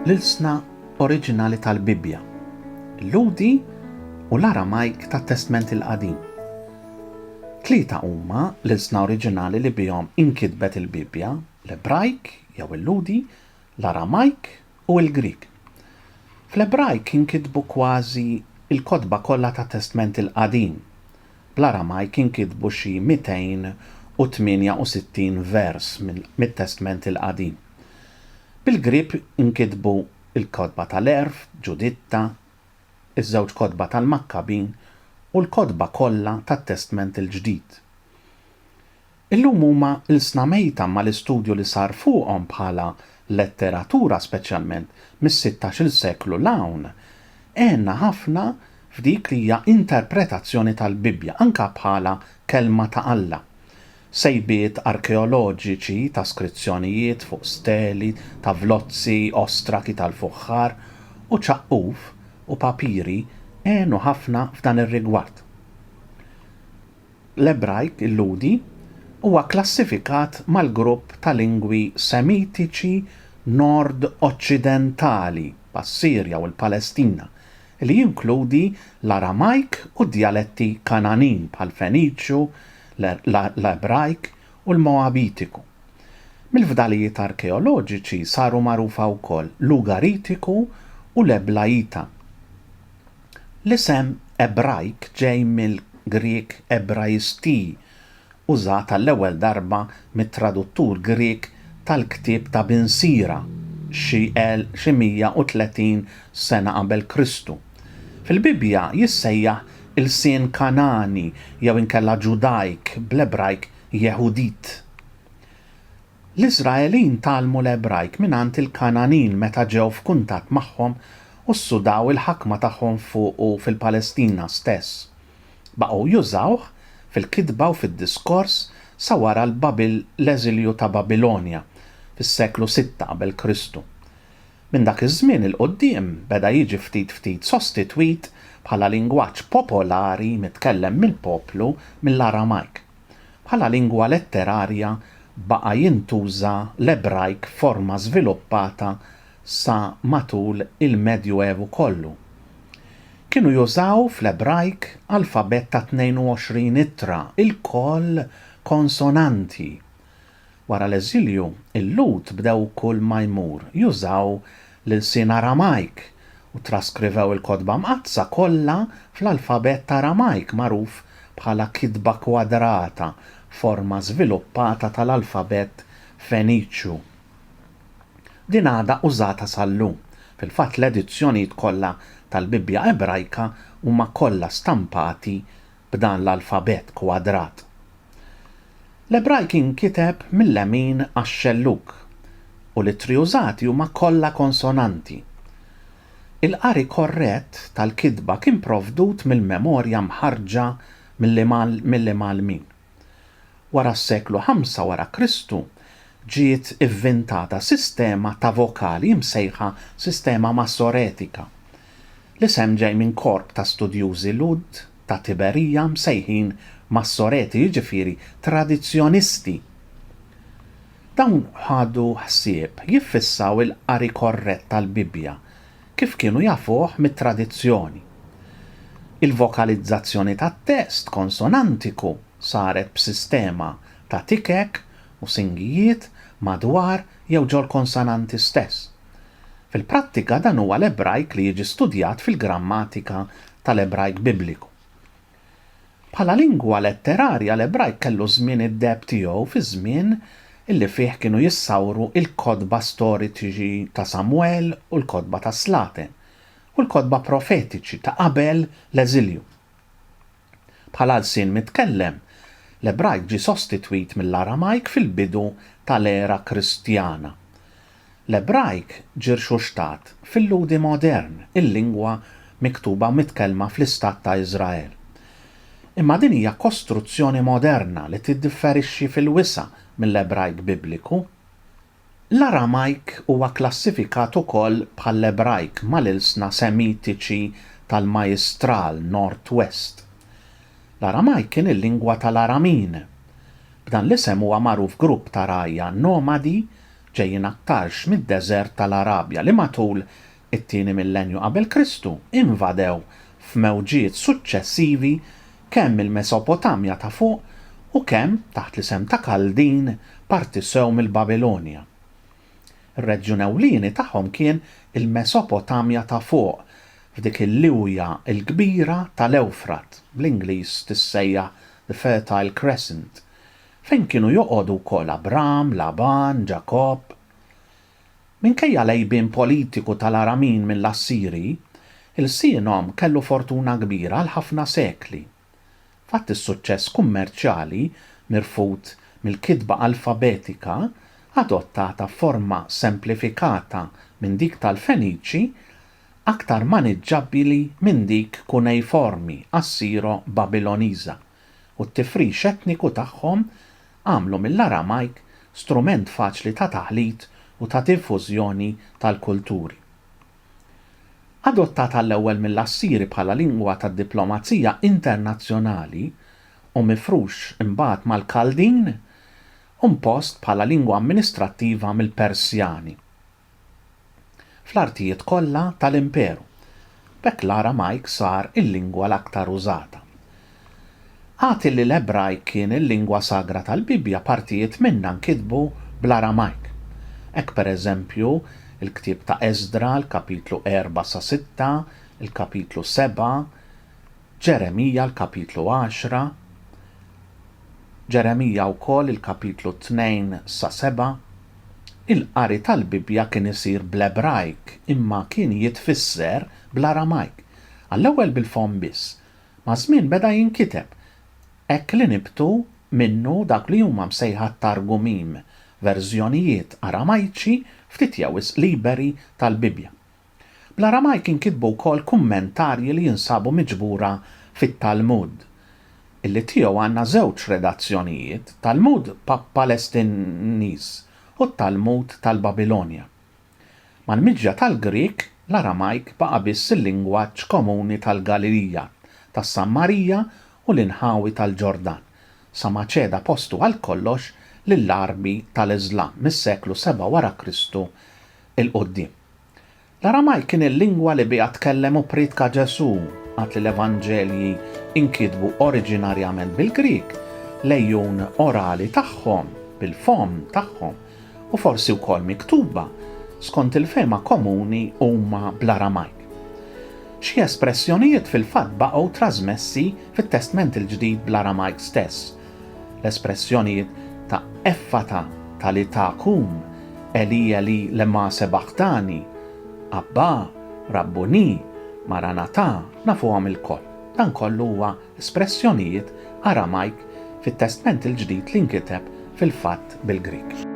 l-ilsna oriġinali tal-Bibbja, il-Lhudi u l-Aramajk tat-Testment il-Qadim. Tlieta huma l-ilsna oriġinali li bihom inkitbet il-Bibbja, l-Ebrajk jew il-Lhudi l-Aramajk u l-Grieg. Fl-Ebrajk inkitbu kważi l-kotba kollha tat-Testment il-Qadim. Bl-Aramajk inkitbu xi 268 vers mit-Testment il-Qadim. Bil-Grieg inkitbu l-kotba tal-Għerf, Ġuditta, iż-żewġ kotba tal-Makkabin u l-kotba kollha tat-Testment il-Ġdid. Illum huma ilsna mejta mal-istudju li sar fuqhom bħala letteratura speċjalment mis-sittax-il seklu 'l hawn. Għenna ħafna f'dik li hija interpretazzjoni tal-Bibbja anke bħala Kelma ta' Alla. Sejbiet arkeoloġiċi ta' skrizzjonijiet fuq steli ta' vlozzi, ostraki tal-fuħħar, u ċaqquf u papiri għenu ħafna f'dan ir-rigward. L-Ebrajk Lhudi huwa kklassifikat mal-grupp ta' lingwi Semitiċi Nord-Oċċidentali, bħas-Sirja u l-Palestina, li jinkludi l-Aramajk u d-djaletti Kangħanin, bħall-Feniċju, l-Ebrajk u l-Moabitiku. Mill-fdalijiet arkeoloġiċi saru magħrufa wkoll l-Ugaritiku u l-Eblaita. L-isem Ebrajk ġej mill-Grieg Ebraisti, użat għall-ewwel darba mit-traduttur Grieg tal-Ktieb ta' Bin Sira xi 130 sena qabel Kristu. Fil-Bibbja jissejjaħ ilsien Kangħani jew inkella Ġudajk, bl-Ebrajk Yehudit. L-Iżraelin tgħallmu l-Ebrajk mingħand il-Kangħanin meta ġew f'kuntatt magħhom u ssudaw il-ħakma tagħhom fuqu fil-Palestina stess. Baqgħu jużawh fil-kitba u fid-diskors sa wara l-eżilju ta' Babilonja fis-seklu sitta qabel Kristu. Minn dak iż-żmien 'il quddiem beda jiġi ftit ftit sostitwit bħala lingwaġġ popolari mitkellem mill-poplu mill-Aramajk. Bħala lingwa letterarja baqa' jintuża l-Ebrajk f'forma żviluppata sa matul il-Medju Evu kollu. Kienu jużaw fl-Ebrajk alfabett ta' 22 ittra, ilkoll konsonanti. Wara l-eżilju, il-Lhud bdew kull ma jmur jużaw l-ilsien Aramajk u ttraskrivew il-Kotba Mqaddsa kollha fl-alfabett Aramajk magħruf bħala kitba kwadrata, forma żviluppata tal-alfabett Feniċju. Din għadha użata sal-lum. Fil-fatt, l-edizzjonijiet kollha tal-Bibbja Ebrajka huma kollha stampati b'dan l-alfabett kwadrat. L-Ebrajk jinkiteb mil-lemin għax-xellug, u l-ittri użati huma kollha konsonanti. Il-qari korrett tal-kitba kien provdut mill-memorja mħarrġa mill-Imgħallmin. Wara s-seklu ħamsa wara Kristu ġiet ivvintata sistema ta' vokali msejħa sistema Massoretika, L-isem ġej minn korp ta' studjużi Lhud ta' Tiberija msejħin Massoreti, jiġifieri tradizzjonisti. Dawn ħadu ħsieb jiffissaw il-qari korrett tal-Bibbja kif kienu jafuh mit-tradizzjoni. Il-vokalizzazzjoni tat-test konsonantiku saret b'sistema ta' tikek u singijiet madwar jew ġol-konsonanti stess. Fil-prattika dan huwa l-Ebrajk li jiġi studjat fil-grammatika tal-Ebrajk Bibliku. Bħala lingwa letterarja l-Ebrajk kellu ż-żmien id-deheb tiegħu fiż-żmien li fih kienu jissawru l-kotba storiċi ta' Samwel u l-kotba tas-Slaten u l-kotba profetiċi ta' qabel l-eżilju. Bħala lsien mitkellem, l-Ebrajk ġie sostitwit mill-Aramajk fil-bidu tal-era Kristjana. L-Ebrajk ġie rxuxtat fil-Lhudi modern, il-lingwa miktuba u mitkellma fl-Istat ta' Iżrael. Imma din hija kostruzzjoni moderna li tiddifferixxi fil-wisa' mill-Ebrajk Bibliku. L-Aramajk huwa kklassifikat ukoll bħall-Ebrajk mal-ilsna Semitiċi tal-Majistral, Northwest. L-Aramajk kien il-lingwa tal-Aramin. B'dan l-isem huwa magħruf grupp ta' rgħajja nomadi ġejjin aktarx mid-deżert tal-Arabja li matul it-tieni millennju qabel Kristu, invadew f'mewġiet suċċessivi kemm il-Mesopotamja ta' Fuq u kemm, taħt l-isem ta' Kaldin, parti sew mill-Babilonja. Ir-reġjun ewlieni tagħhom kien il-Mesopotamja ta' Fuq, f'dik il-liwja l-kbira tal-Ewfrat, bl-Ingliż tissejjaħ the Fertile Crescent, fejn kienu joqogħdu wkoll Abram, Laban, Ġakobb. Minkejja l-għejbien politiku tal-Aramin mill-Assiri, ilsienhom kellu fortuna kbira għal ħafna sekli. Fatt is-suċċess kummerċjali mirfud mill-kitba alfabetika adottata f'forma semplifikata minn dik tal-Feniċi, aktar maniġġabbili minn dik kunejformi Assiro-Babiloniża. u t-tifrix etniku tagħhom għamlu mill-Aramajk strument faċli ta' taħlit u ta' dinfużjoni tal-kulturi. Adottat għall-ewwel mill-Assiri bħala lingwa tad-diplomazija internazzjonali u mifrux imbagħad mal-Kaldin u mpost bħala lingwa amministrattiva mill-Persjani. fl-artijiet kollha tal-Imperu. B'hekk l-Aramajk sar il-lingwa l-aktar użata. Agħti li l-Ebrajk kien il-lingwa sagra tal-Bibbja partijiet minnha nkitbu bl-Aramajk. Hekk pereżempju, il-ktieb ta' Esdra, l-kapitlu erbgħa sa sitta, il-kapitlu sebgħa, Ġeremija l-kapitlu għaxra, Ġeremija wkoll il-kapitlu tnejn sa seba', il-qari tal-Bibbja kien isir bl-Ebrajk imma kien jitfisser bl-Aramajk, għall-ewwel bil-fomm biss. Maż-żmien beda jinkiteb, hekk li nibtu minnu dawk li huma msejħa t-Targumim, verżjonijiet Aramajċi ftit jew wisq liberi tal-Bibbja. Bl-Aramajk inkitbu wkoll kummentarji li jinsabu miġbura fit-Talmud. Illi tiegħu għandna żewġ redazzjonijiet, Talmud Palestiniż u t-Talmud tal-Babilonja. Mal-miġja tal-Grieg, l-Aramajk baqa' biss il-lingwaġġ komuni tal-Galilija, tas-Sammarija u l-inħawi tal-Ġordan, sa ma ċeda postu għal kollox lill-Għarbi tal-Iżlam mis-seklu seba' wara Kristu 'l quddiem. L-Aramajk kien il-lingwa li biha tkellem u prietka Ġesù, għad li l-Evanġelji inkitbu oriġinarjament bil-Grieg, l-għejun orali tagħhom, bil-fomm tagħhom, u forsi wkoll miktuba, skont il-fehma komuni huma bl-Aramajk. Xi espressjonijiet fil-fatt baqgħu trażmessi fit-Testment il-Ġdid bl-Aramajk stess, L-espressjonijiet ta' Effata talitha kum, Eli Eli lema sebaghtani, Abbà, Rabbunì, Maranatà, nafuhom ilkoll. Dan kollu huwa espressjonijiet Aramajk fit-Testment il-Ġdid li nkiteb fil-fatt bil-Grieg.